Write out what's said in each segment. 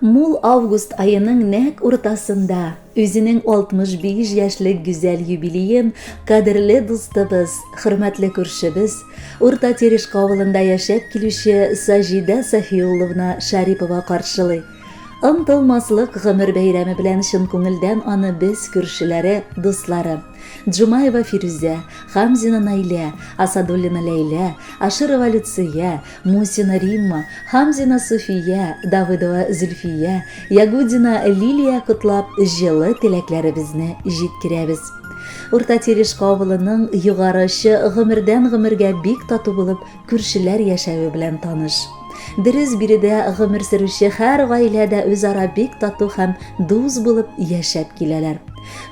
Мул август аеның нәк уртасында үзенең 65 яшьлек гүзәл юбилеен кадерле дустыбыз, хөрмәтле күршебез, Урта Терешк авылында яшәп килүче Саҗидә Сафиулловна Шарипова каршылый. Ынтылмаслык гомер бәйрәме белән чын күңелдән аны без күршеләре, дуслары, Джумаева Фирүзә, Хамзина Наилә, Асадуллина Ләйлә, Аширова Люция, Мусина Римма, Хамзина Суфия, Давыдова Зөлфия, Ягудина Лилия котлап, җылы теләкләребезне җиткерәбез. Урта Терешка авылының Югары Очы гомердән-гомергә бик тату булып, күршеләр яшәве белән таныш. Дөрес, биредә гомер сөрүче һәр гаилә дә үзара бик тату һәм дус булып яшәп киләләр.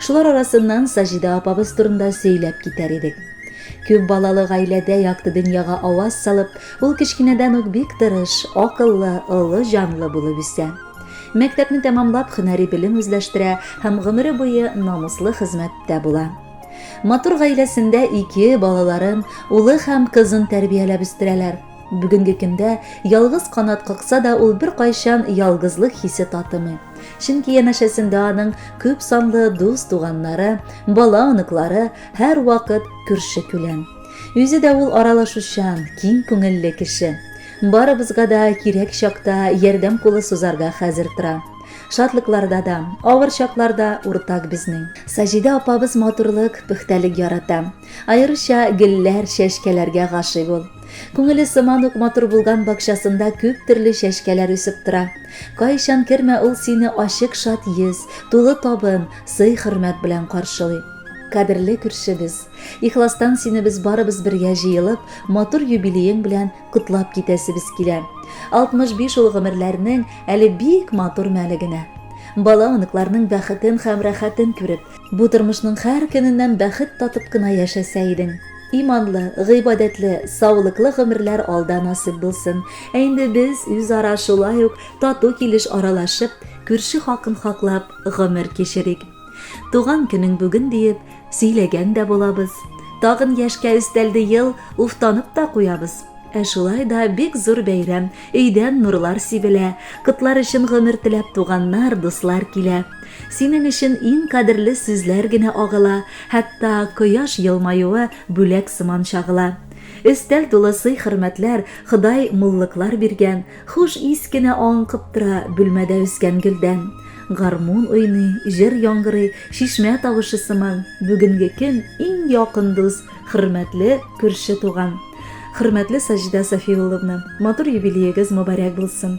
Шулар арасыннан Саҗидә апабыз турында сөйләп китәр идек. Күп балалы гаиләдә якты дөньяга аваз салып, ул кечкенәдән үк бик тырыш, акыллы, олы җанлы булып үсә. Мәктәпне тәмамлап, һөнәри белем үзләштерә һәм гомере буе намуслы хезмәттә була. Матур гаиләсендә ике балаларын, улы һәм кызын тәрбияләп үстерәләр. Бүгенге көндә ялгыз канат какса да, ул беркайчан ялгызлык хисе татымый. Чөнки янәшәсендә аның күп санлы дус-туганнары, бала-оныклары һәрвакыт күрше-күлән. Үзе дә ул аралашучан, киң күңелле кеше. Барыбызга да кирәк чакта ярдәм кулы сузарга хәзер тора. Шатлыкларда да, авыр чакларда уртак безнең. Саҗидә апабыз матурлык, пөхтәлек ярата. Аеруча гөлләр, чәчкәләргә гашыйк ул. Күңеле сыман ук матур булган бакчасында күп төрле чәчкәләр үсеп тора. Кайчан кермә ул сине ачык шат йөз, тулы табын, сый-хөрмәт белән каршылый. Кадерле күршебез, ихластан сине без барыбыз бергә җыелып, матур юбилеең белән котлап китәсебез килә. 65 ул гомерләрнең әле бик матур мәле генә. Бала-оныкларның бәхетен һәм рәхәтен күреп, бу тормышның һәр көненнән бәхет татып кына яшәсә идең. Иманлы, гыйбадәтле, саулыклы гомерләр алда насыйп булсын. Ә инде без үзара шулай ук тату килеш аралашып, күрше хакын хаклап гомер кичерик. Туган көнең бүген диеп, сөйләгән дә булабыз. Тагын яшькә өстәлде ел, уфтанып та куябыз. Ә шулай да бик зур бәйрәм, өйдән нурлар сибелә. Котлар өчен гомер теләп туганнар, дуслар килә. Синең өчен иң кадерле сүзләр генә агыла, хәтта кояш елмаюы бүләк сыман чагыла. Өстәл тулы сый-хөрмәтләр, Ходай муллыклар биргән, хуш ис кенә аңкып тора бүлмәдә үскән гөлдән. Гармун уйный, җыр яңгырый, чишмә тавышы сыман, бүгенге көн иң якын дус, хөрмәтле күрше-туган. Хөрмәтле Саҗидә Сафиулловна, матур юбилеегыз мөбарәк булсын!